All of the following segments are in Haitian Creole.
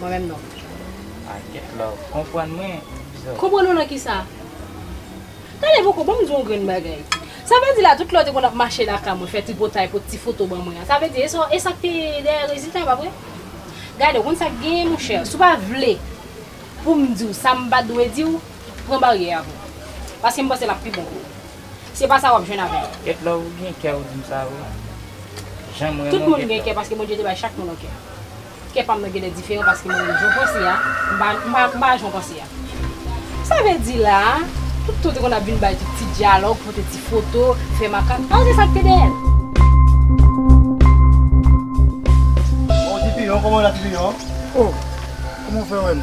Mwen menm non. Ah get love konprann mwen bzot. Konprann ou nan kisa? Tande boko banm di w yon grenn bagay. Sa vle di la tout lè w te konn ap mache lakay mwen fè tripotay pot ti foto ban mwen an sa vle di e sak te dèyè rezilta yo pa vre? Gade w konn sak genyen monchè si w pa vle pou m di w sa m pa dwe di w pran baryè a pou w. Paske m panse l ap pi bon pou w. Se pa sa w ap jwenn avè m. Get love ou gen kè ou di m sa vre. Jan m renmen w get love. Tout moun gen kè paske Bondye te bay chak moun yon kè. Kè pam nan genlè diferan paske mwen menm jan w panse a m pa jan w panse a. Sa vle di la a, tout tan w te konn ap vin bay tout ti dyalòg, pote ti foto, fè makak, al gade sa k te dèyè l. Bon ti piyon, kòman w la ti piyon? O, kòman w fè wè m?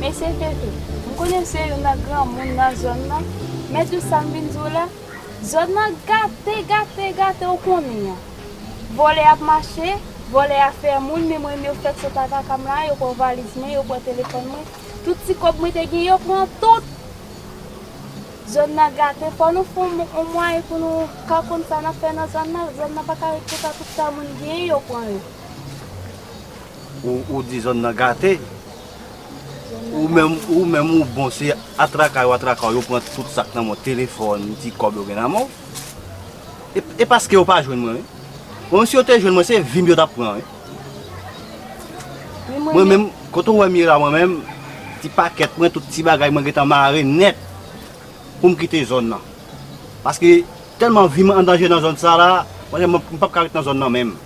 Mesye Fefe, m konnen m se youn nan granmoun nan zòn nan, men tout sa m vin di w la, zòn nan gate, gate, gate ou konnen an. Vòlè ap mache, vòlè a fè moun, menm mwen menm yo fèk sot ataka m la, yo pran valiz mwen, yo pran telefòn mwen, tout ti kòb mwen te gen yo pran tout. Zòn nan gate, fò nou fè yon mwayen pou nou ka konn sa n ap fè nan zòn nan, zòn nan pa ka ret konsa tout sa moun genyen yo pran yo. Ou di zòn nan gate, ou menm ou bon se atraka yo atraka w yo pran tout sa k nan men w, telefòn, ti kòb yo gen nan men w. E paske yo pa jwenn mwen wi. Mwen menm si yo te jwenn mwen se vi m yo t ap pran wi. Mwen menm kote ou wè m ye la mwen menm ti pakèt mwen tout ti bagay mwen gentan mare nèt pou m kite zòn nan. Paske tèlman vi m an danje nan zòn sa la, m pa p ka ret nan zòn nan menm.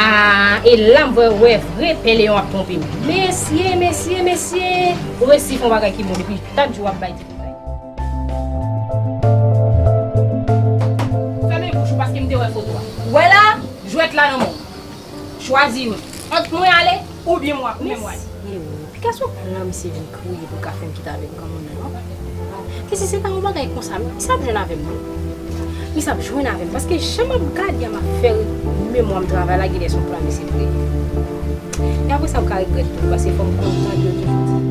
Aah e lam vwe wè vre pè leyon ap tronpe m. Mesye mesye mesye ou resi fon bagay ki bon depi dat jou wap bay ti detay. Fèmen bouch ou paskem te wè foto a. Wè la jwèt la nan menw. Chwazi youn. Ant mwen ale. Ou byen mwa, ou byen mwa. Mesi Wi, pikas ou pran lan misye vin kriye pou ka fem kite avek granmoun nan non. Mesi se pa yon bagay konsa misye ap jwenn avem non. Misye ap jwenn avem paske jan map gade map fe memwam travay la genlè son plan misye vre. E apre sa ou ka regret tou paske fom konprann yo toujou di.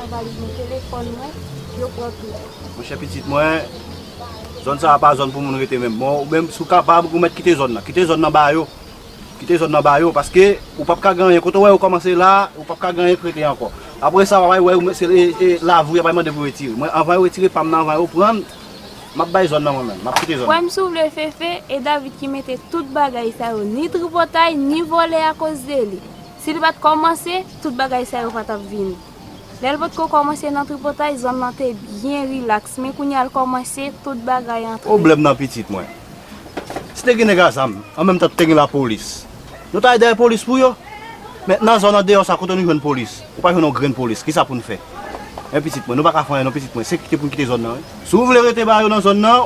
Nan valiz mwen telefòn mwen yo pran tout. Monchè pitit mwen, zòn sa a pa zòn pou moun rete menm. Bon, ou menm si w kapab, ou mèt kite zòn nan. Kite zòn nan ba yo. Kite zòn nan ba yo paske ou pap ka gen anyen. Kote w wè yo kòmanse la a, ou pap ka gen anyen k rete ankò. Apre sa, w ap al wè yo, se lavi w y ap al mande pou retire. Mwen anvan yo retire pa m nan, anvan yo pran l, m ap bay zòn nan mwen menm. M ap kite zòn nan. Frè m si w vle Fefe, e David ki mete tout bagay sa yo, ni tripotay, ni vòlè akoz de li. Si li pa t kòmanse, tout bagay sa yo pa t ap vini. Lè l potko kòmanse nan tripotay zòn lan te byen rilaks men kounye a l kòmanse tout bagay antre. Pwoblèm nan pitit mwen. Si te gen nèg a zam, an menm tan te gen lapolis, nou ta al dèyè polis pou yo. Men nan zòn andeyò sa kote nou jwenn polis, ou pa jwenn yon grenn polis, kisa pou n fè? Men pitit mwen, nou pa ka fè anyen non pitit mwen, se kite pou n kite zòn nan wi. Si w vle rete ba yo nan zòn nan,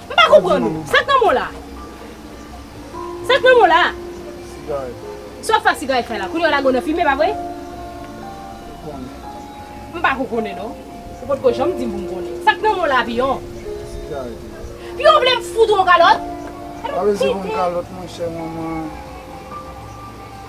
M pa konprann ou. Sa k nan men w la a? Sa k nan men w la a? Sigarèt. Sa w ap fè ak sigarèt fè la? Kounye a w lage w nan fimen, pa vre? Ou konnen. M pa ko konnen non. Ou pot ko janm di m pou m konnen. Sa k nan men w la a, Piyon? Sigarèt. Piyon vle m fout ou yon kalòt? Pa vle di pou m kalòt monchè manman.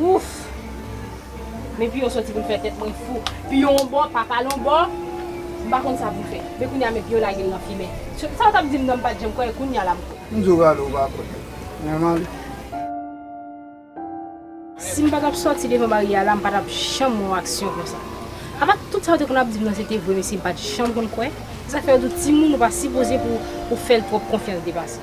Ouff! Men Piyò sòti pou l fè tèt mwen fou. Piyò yon bò, Papa l yon bò, m pa konn sa pou m fè. Men kounye a men Piyò lage l nan fimen. Sa w t ap di m nan m pa t janm kwè, kounye a la m kwè. M di w rale w pa kwè. Mwen mande. Si m pa t ap sòti devan baryè a la, m pa t ap janm wè yon aksyon konsa. Apa tout sa yo te konn ap di m nan se te vre mesye m pa t janm konn kwè. Se sa k fè yo di w timoun ou pa sipoze pou w fè l twòp konfyans depase.